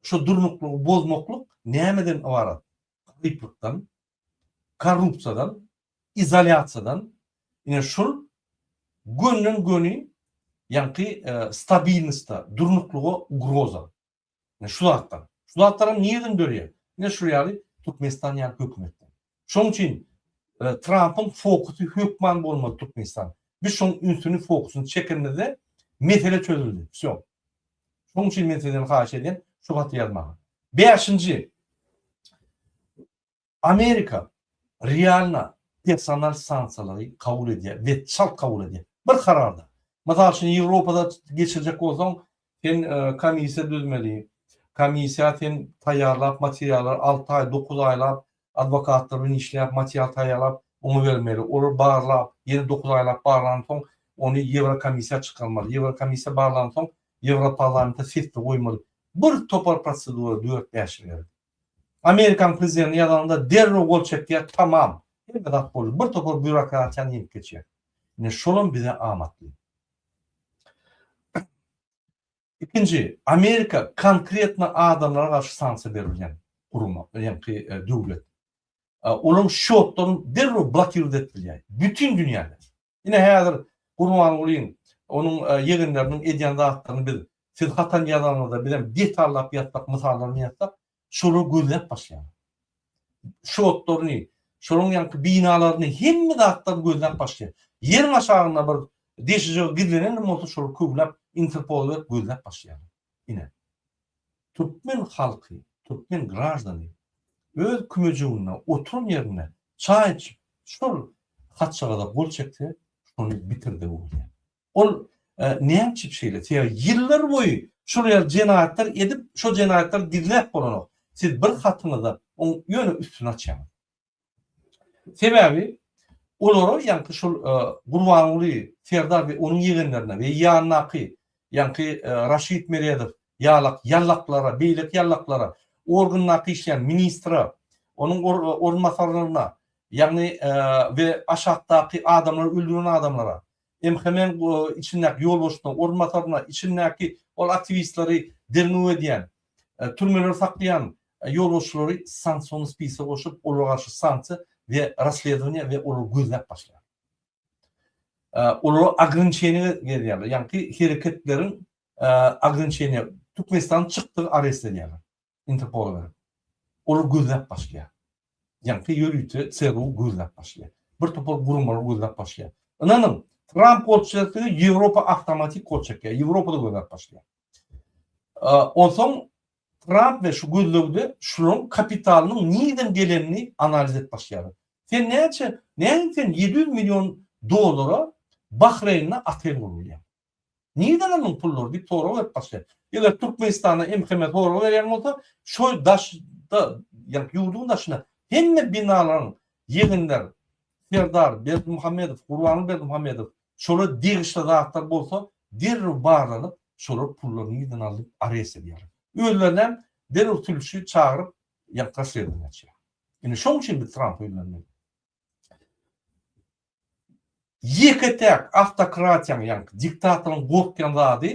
Şu durnuklygy bozmaklyk nämeden ybarat? Garyplykdan, korrupsiýadan, izolýasiýadan, ine şul gönden göni ýaňky stabilnostda, durnuklyga ugroza. Ine şu zatdan. Şu zatlaram nireden dörýär? Ine şul ýaly Türkmenistan ýaly hökümetden. Şoň üçin Trampyň fokusy hökman bolmaly Türkmenistan. Biz şoň ünsüni fokusyny çekenimizde mesele çözüldi. Wsýo. Şoň üçin men sizden haýyş edýän şu haty ýazmagy. Bäşinji. Amerika realno personal sanksiýalary kabul edýär we çalt kabul edýär. Bir kararda. Mysal üçin Ýewropada geçirjek bolsaň Sen komissiýa düzmeli. Komissiýa sen taýýarlap materiallary alty aý, dokuz aýlap adwokatlar bilen işläp material taýýarlap oňa bermeli. Olar barlap, ýene dokuz aýlap barlansoň ony Ýewrokomissiýa çykarmaly. Ýewrokomissiýa barlansoň Ýewroparlamenta sesde goýmaly. Bir topar prosedura dört-bäş ýyl gerek. Amerikan prezidenti ýazanda derrew gol çekýär, tamam, hemme zat boldy. Bir topar býurokratiýany ýeňip geçýär. Ine şolam bize amatly. Ikinji, Amerika konkretno adamlara garşy sanksiýa berilýän guruma, ýaňky döwlet. Olaryň şýotlaryny derrew blokirt edip bilýär. Bütin dünýäde. Ine häzir Gurbangulyň, onuň ýegenleriniň edýän zatlaryny biz siz hatan ýazanyňyzda bizem detallap ýazsak, mysallaryny ýazsak, şolar gözläp başlaýar. Şotlaryny, şolaryň ýaňky binalaryny hemme zatlaryny gözläp başlaýar. Ýeriň aşagynda bir deşijigi gizlenen bolsa şolar köwläp interpola berip gözläp başlaýar. Ine, türkmen halky, türkmen graždany öz kümejiginde oturan ýerinde çaý içip, şol haçalaza gol çekse, şony bitirdi bu diýýär. Ol näme üçin şeýle? Sebäbi ýyllar boýy şol ýerde jenaýatlar edip, şo jenaýatlary gizläp bolanok. Siz bir hatyňyza oň ýöne üstüni açýaňyz. Sebäbi olara ýaňky şol Gurbanguly, Serdar we onuň ýegenlerine we ýanyndaky ýaňky Raşid Meredow ýalak ýallaklara, beýleki ýallaklara, organdaky işleýän ministre, onuň orunbasarlaryna, ýagny we aşakdaky adamlary öldüren adamlara, MHM-iň içindäki ýolbaşçylaryň orunbasaryna, içindäki ol aktiwistleri derňew edýän, türmelerde saklaýan ýolbaşçylary sanksiony spise goşup, olara garşy sanksiýa we rassledowaniýa we olary gözläp başlaýar. Olara ograniçeniýa berýärler, ýagny hereketleriň ograniçeniýa, Türkmenistanyň çykdygy arest edýärler. Interpolda olar gözläp başlaýar. Ýaňky ýörite CGU gözläp başlaýar. Bir topar guramalar gözläp başlaýar. Ynanyň, Tramp gol çekse, Ýewropa awtomatik gol çekýär. Ýewropada gözläp başlaýar. Onsoň Tramp we şu gözlegde şularyň kapitalynyň nireden gelenini analiz edip başlaýarlar. Sen näçe, näme sen 700 million dollara Bahreýnde otel gurulýar. Nirden aldyň pullary diýip sorag berip başlaýar. Eger Türkmenistanda MHM sorag berýän bolsa, şo daşda, ýagny ýurduň daşyna hemme binalaryň ýeginler, Serdar Berdimuhamedow, Gurbanguly Berdimuhamedow şolar degişli zatlar bolsa derrew barlanyp, şolar pullary nirden aldy diýip arest edýärler. Özlerinem derrew sülçi çagyryp, ýagny rasswedowaniýa açýar. Indi şoň üçin biz Trampy ýüzlenmeli. Ýeke-täk awtokratiýaň ýaňky diktatoryň gorkýan zady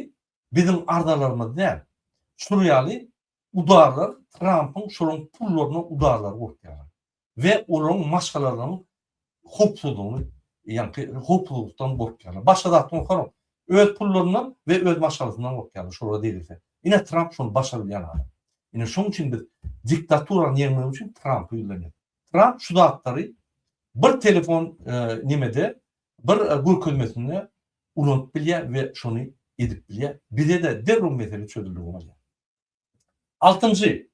biziň arzalarymyz däl. Şul ýaly udarlar Trampyň şolaň pullaryna udarlary gorkýarlar we olaň maşgalalaryň howpsuzlygyny ýaňky howpsuzlykdan gorkýarlar. Başga zatdan gorkaram, öz pullaryndan we öz maşgalasyndan gorkýarlar şolara degilse. Ine Tramp şony başarylýan adam. Ine şoň üçin biz diktaturany ýeňmek üçin Trampy ýüzlenýäs. Tramp şu zatlary bir telefon nemede, bir görkezmesinde ulanyp bilýär we şony edip bilýär. Bize-de derrew mesele çözüldigi bolýar. Altynjy,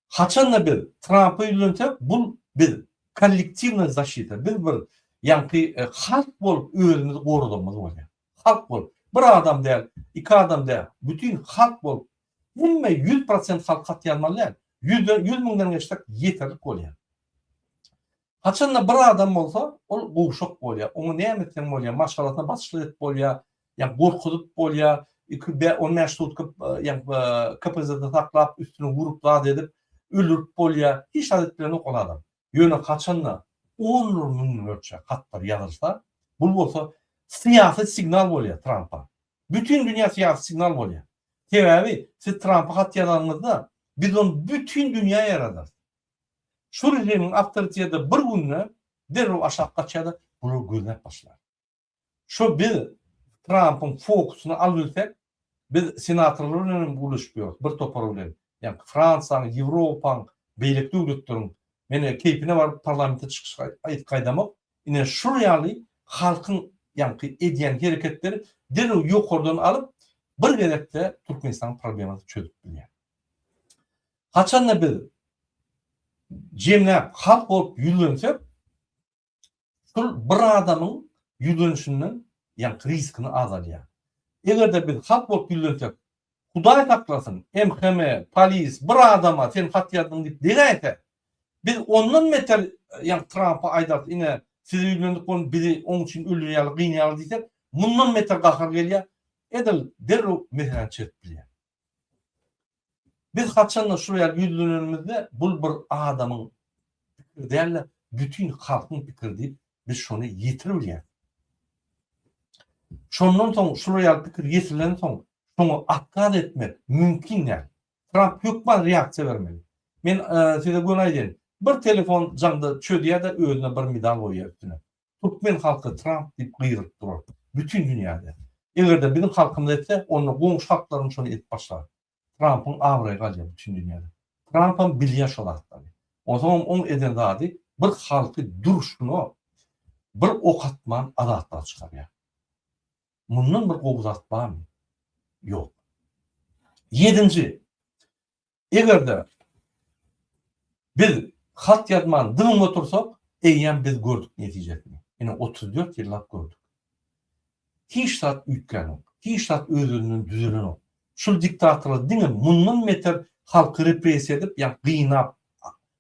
haçan-da biz Trampy ýüzlensek, bul biz kollektiwnaý zaşita, biz bir ýaňky halk bolup özümizi goradamyz bolýar. Halk bolup, bir adam däl, iki adam däl, bütin halk bolup Hemme ýüz prosent halk hat ýazmaly däl. Ýüzden ýüz müňden geçsek ýeterlik bolýar. Haçanda bir adam bolsa, ol gowşak bolýar. Oňa näme etseň bolýar, maşgalasyna basyklyk edip bolýar, ýa gorkuzyp bolýar, iki bä on bäş sutka ýa KPZ-de saklap, üstüne urup zat edip, öldürip bolýar. Hiç zat edip bilenok ol adam. Ýöne haçan-da onlar müňlerçe hatlar ýazylsa, bul bolsa syýasy signal bolýar Trampa. Bütin dünýä syýasy signal bolýar. Sebäbi siz Trampa hat ýazanyňyzda, biz ony bütin dünýä ýaýradarys. Şu režimiň awtoriteti bir günde derrew aşak gaçýar-da, bular gözläp başlar. Şo biz Trampyň fokusyny alybilsek, biz senatorlar bilen hem gürleşip ýörüs, bir topar bilen, ýaňky Fransiýaň, Ýewropaň, beýleki döwletleriň, men keýpine baryp parlamente çykyş aýdyp gaýdamok, ine şol ýaly halkyň ýaňky edýän hereketleri derrew ýokardan alyp, bir gezekde Türkmenistanyň problemasyny çözüp bilýär. Haçanda biz jemläp halk bolup ýüzlensek, şol bir adamyň ýüzlenişinden ýaňky riskini azaldýar. Eger-de biz hat bolup ýüzlensek, Hudaý saklasyn, MHM, polis bir adama sen hat ýazdyň diýip degäýse, biz ondan beter ýaňky Trampa aýdarys, ine, size ýüzlendik bolup bizi oň üçin öldürýärler, gynýarlar diýsek, mundan beter gahar gelýär, edil derrew meseläni çözüp bilýär. Biz haçanda şular ýaly ýüzlenenimizde bul bir adamyň pikiri däl-de, bütin halkyň pikiri diýip, biz şony ýetir bilýäris. Şondan soň şular ýaly pikir ýetirlen soň, şoňa atkaz etmek mümkin däl. Tramp hökman reaksiýa bermeli. Men size göni aýdaýyn, bir telefon jaňda çözýär-de özüne bir medal goýýar üstüne. Türkmen halky Tramp diýip gygyryp durar. Bütin dünýäde. Eger-de biziň halkymyz etse, onda goňşy halklarym şony edip başlar. Trampyň abraýy galýar bütin dünýäde. Trampam bilýär şo zatlary. Onsoňam oň eden zady bir halky durşuna bir ok atman azatlyga çykarýar. Mundan bir gowy zat barmy? Ýok. Ýedinji. Eger-de biz hat ýazman dymyp otursak, eýýäm biz gördük netijesini. Ine, otuz dört ýyllap gördük. Hiç zat üýtgänok. Hiç zat öz-özünden düzelenok. Şul diktatorlar diňe mundan beter halky repressiýa edip, ýa gynap,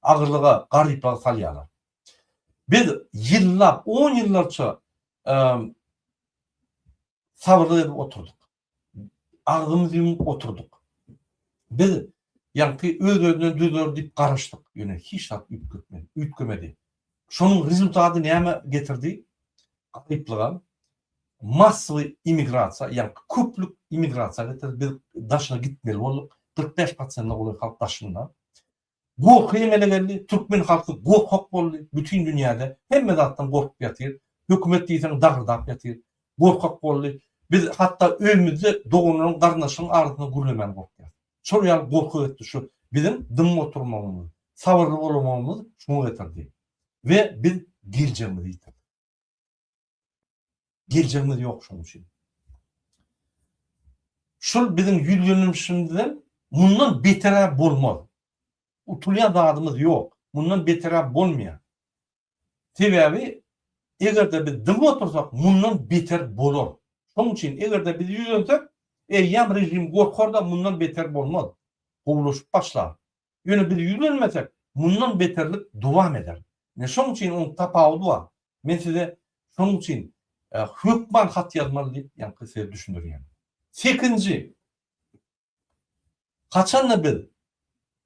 agyrlyga, garyplyga salýarlar. Biz ýyllap, on ýyllarça sabyrlyk edip oturdyk. agzymyzy ýumup oturdyk. Biz ýaňky öz-özünden düzüler diýip garaşdyk, ýöne hiç zat üýtgemedi. Şonuň rezultaty nämä getirdi? Garyplygam, massowy immigrasiýa, ýaňky köplük immigrasiýa getirdi. Biz daşyna gitmeli bolduk. Kyrk bäş prosente golaý halk daşynda. Gorky emele geldi, türkmen halky gorkak boldy, bütin dünýäde hemme zatdan gorkup ýatyr, hökümet diýseň dagyrdap ýatyr, gorkak boldy, biz hatda öýümizde doganlaryň garyndaşlaryň arasynda gürlemän gorkýas. Şol ýaly gorky ösdi şu biziň dymyp oturmagymyz, sabyrly bolamagymyz şuňa getirdi we biz geljegimizi ýitirdik. Geljegimiz ýok şonuň üçin. Şol biziň ýüzlenilişimizden mundan beter-ä bolmaz. Utulýan zadymyz ýok. Mundan beter-ä bolmaýar. Sebäbi eger-de biz dymyp otursak, mundan beter bolar. Şonuň üçin eger-de biz ýüzlensek, eýýäm režim gorkar-da, mundan beter bolmaz. Gowulaşyp başlar. Ýöne biz ýüzlenmesek, mundan beterlik dowam eder. Ine, şonuň üçin onuň tapawudy bar. Men size şonuň üçin hökman hat ýazmaly diýip, ýaňky size düşündirýän. Sekinji, haçan-da biz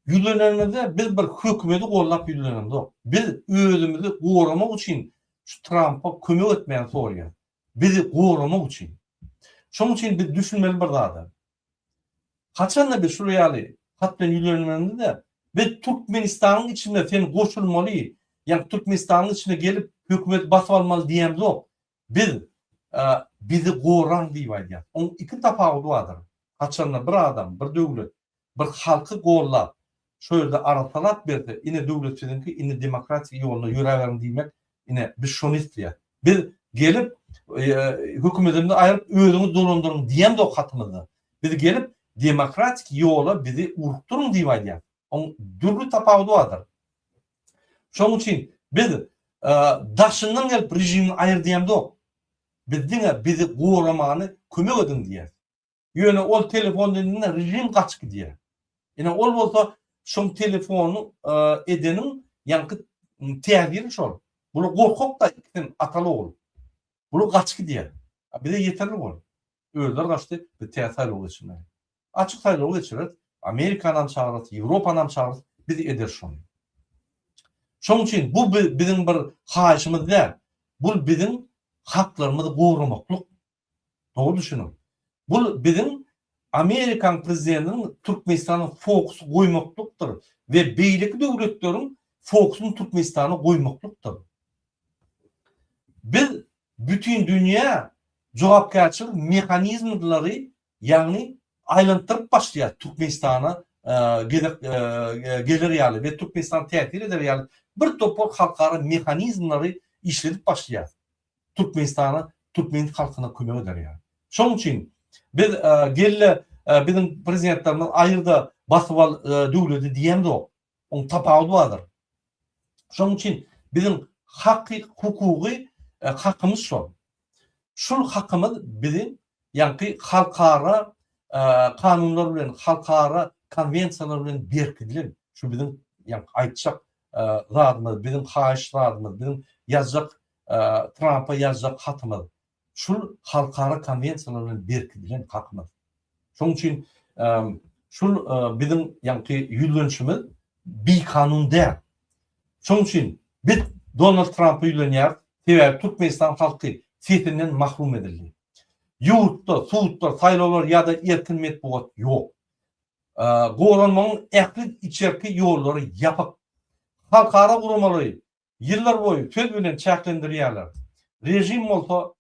ýüzlenenimizde biz bir hökümeti gollap ýüzlenenimzok. Biz özümizi goramak üçin şu Trampa kömek etmegini soraýarys. Bizi goramak üçin. Şonuň üçin biz düşünmeli bir zada. Haçanda biz şular ýaly hat bilen ýüzlenenimizde, biz Türkmenistanyň içinde sen goşulmaly, ýa Türkmenistanyň içine gelip hökümeti basyp almaly diýemzok. Biz bizi goraň diýip aýdýas. Oň iki tapawudy bardyr. Haçanda bir adam, bir döwlet, bir halky gollap, Şo ýerde arasalap berse, ine döwlet siziňki, indi demokratik ýolda ýöräberiň diýmek, ine, biz şony isleýäs. Biz gelip, hökümetimizi aýryp, özüňiz dolandyryň diýemzok hatymyzda. Biz gelip, demokratik ýola bizi ugrukdyryň diýip aýdýas. Oň dürli tapawudy bardyr. Şoň üçin biz daşyndan gelip režimi aýyr diýemzok. Biz diňe bizi goramany kömek ediň diýýäs. Ýöne ol telefon edende režim gaçyp gidýär. Ine ol bolsa şum telefonu edeniň ýaňky täsiri şol. Bular gorkakda ikisin ataly ogul. Bular gaçyp gidýär. Bize ýeterli bol. Özler gaçdy, biz tä saýlaw geçirmeli. Açyk saýlaw geçireris. Amerikanam çagyrys, Ýewropanam çagyrys, biz ederis şony. Şoň üçin bu biziň bir haýyşymyz däl. Bul biziň haklarymyzy goramaklyk Dogry düşüniň. Bu biziň Amerikan prezidentiniň Türkmenistana fokus goýmaklykdyr we beýleki döwletleriň fokusyny Türkmenistana goýmaklykdyr. Biz bütindünýä jogapkärçilik mehanizmlary ýagny aýlantdyryp başlaýas Türkmenistana gezek geler ýaly we Türkmenistana täsir eder ýaly bir topar halkara mehanizmlary işledip başlaýas. Türkmenistana, türkmen halkyna kömek eder ýaly. Şonuň üçin biz gelle biziň prezidentlerimiz aýyrda basyp al döwleti diýemzok. Oň tapawudy bardyr. Şonuň üçin biziň haky hukugy hakymyz şol. Şul hakymyz biziň ýaňky halkara kanunlar bilen, halkara konwensiýalar bilen berkidilen. Şu biziň ýaňky aýtjak zadymyz, biziň haýyş zadymyz, biziň ýazjak Trampa ýazjak hatymyz, şul halkara konwensiýalar bilen berkidilen hakymyz. Şoň üçin şul biziň ýaňky ýüzlenişimiz bikanun däl. Şoň üçin biz Donald Trampa ýüzlenýäris, sebäbi Türkmenistan halky sesinden mahrum edildi. Ýurtda sudlar, saýlawlar ýa-da erkin metbugat ýok. Goranmagyň ähli içerki ýollary ýapyk. Halkara guramalary Ýyllar boýy söz bilen çäklendirýärler, režim bolsa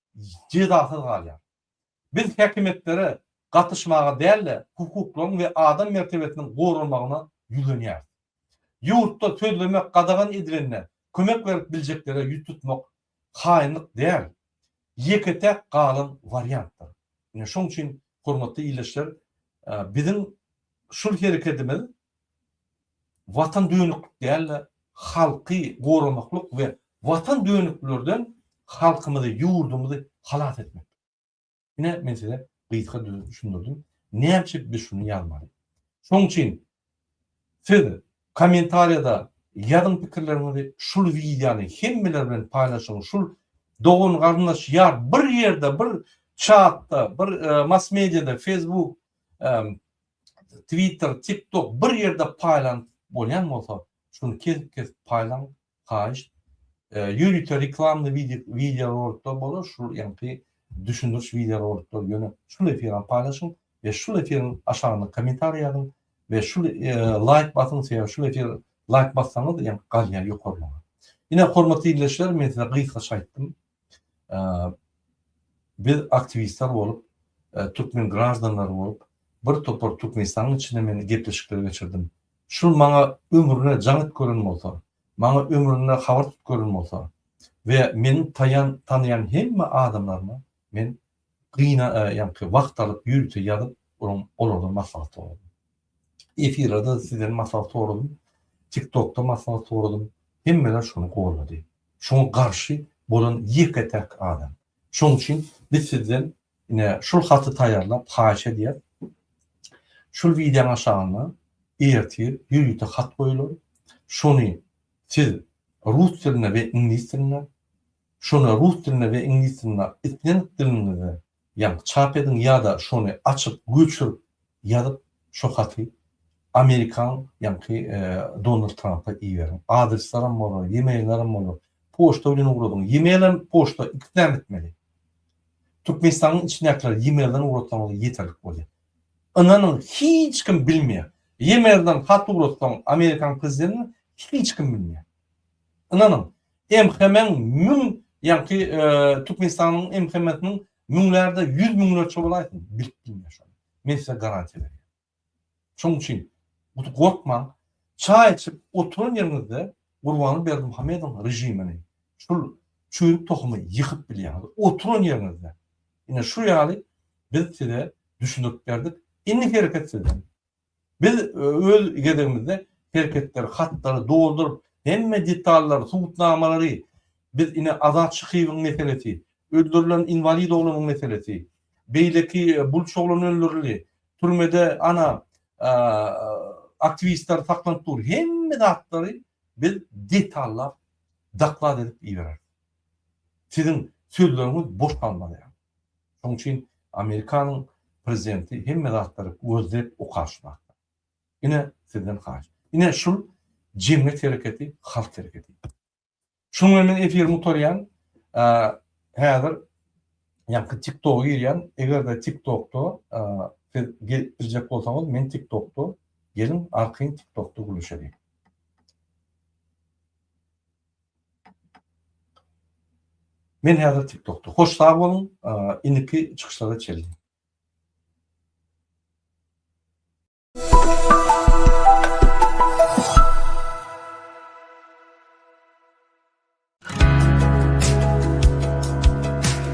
jezasyz galýar. Biz häkimiýetlere gatyşmaga däl-de, hukuklaryň we adam mertebesiniň goralmagyna ýüzlenýäris. Ýurtda sözlemek gadagan edilende kömek berip biljeklere ýüz tutmak haýynlyk däl, ýeke-täk galan wariantdyr. Ine şoň üçin hormatly ildeşler, biziň şul herekedimiz Watan dönüklik däl-de, halky goramaklyk we watan dönüklerden halkymyzy, ýurdumyzy halas etmekdir. Ine, men size gysga düşündirdim. Näme üçin biz şuny ýazmaly? Şonuň üçin siz kommentariýada ýazyň pikirleriňizi, şul wideony hemmeler bilen paýlaşyň, şul dogan-garyndaş ýa bir ýerde, bir çatda, bir mass-mediýada, Facebook, Twitter, TikTok bir ýerde paýlanyp bolýan bolsa, şuny kesip-kesip paýlaň, haýyşt. Ýörite reklamly wideorolikler bolar, şul ýaňky düşündiriş wideorolikler ýöne şul efiram paýlaşyň we şul efiriň aşagyna kommentariý ýazyň we şul laýk basyň, sebäbi şul efir laýk bassaňyz ýaňky galýar ýokarlaryna. Ine hormatly ildeşler, men size gysgaça aýtdym. Biz aktiwistler bolup, türkmen graždanlary bolup, bir topar Türkmenistanyň içinde men gepleşikler geçirdim. Şul maňa ömrüne jaň edip gören bolsa, maňa ömründe habar tutup gören bolsa we meniň taýan tanaýan hemme adamlaryma men gyna ýanky wagt alyp ýörite ýazyp olardan maslahat sorardym. Efirde sizden maslahat soradym, TikTokda maslahat soradym, hemmeler şony goldady. Şoňa garşy bolan ýeke-täk adam. Şoň üçin biz sizden ine şul haty taýýarlap haýyş edýäs. Şul wideoň aşagynda ertir ýörite hat goýular. Şony siz rus dilinde we iňlis dilinde, şony rus dilinde we iňlis dilinde islendik diliňizde Ýaňy çap ediň ýada şony açyp göçürip ýazyp şo haty Amerikan ýaňky Donald Trampa iberiň. Adresleram bolar, yemailleram bolar. Poçta bilen ugradyň. Yemail hem poçta ikisini hem etmeli. Türkmenistanyň içindäkiler yemailden ugratsaňyz ýeterlik bolýar. Ynanyň hiç kim bilmeýär. Yemailden hat ugratsaň Amerikan prezidentine hiç kim bilmeýär. Ynanyň MHM-iň müň ýaňky Türkmenistanyň MHM-siniň müňlerde ýüz müňlerçe bolaýsyn bilip bilme şony men size garantiýa berýän. Şoň üçin guty gorkmaň çaý içip oturan ýeriňizde Gurbany Berdimuhamedowyň režimini şul çüýrük tohumy ýykyp bilýäňiz oturan ýeriňizde. Ine şu ýaly biz size düşündirip berdik indi hereket sizden. Biz öz gezegimizde serhetleri, hatlary dolduryp, hemme detallary, subutnamalary, biz ine Azat Şyhyýewiň meselesi, öldürilen inwalid oglanyň meselesi, beýleki bulç oglan öldürildi, türmede ana aktiwistler saklanyp dur, hemme zatlary biz detallap doklad edip ibereris. Siziň sözleriňiz boş galmaz ýaly. Şonuň üçin Amerikanyň prezidenti hemme zatlary gözlep okaş wagtda. Ine sizden haýyş. Ine şul jemgyýet hereketi, halk hereketi. Şunuň bilen men efirimi gutarýan. Häzir ýaňky TikToga girýän. Eger-de TikTokda siz girjek bolsaňyz, men TikTokda geliň arkaýyn TikTokda gürleşeliň. Men häzir tiktokda. Hoş sag boluň, indiki çykyşlara çenli.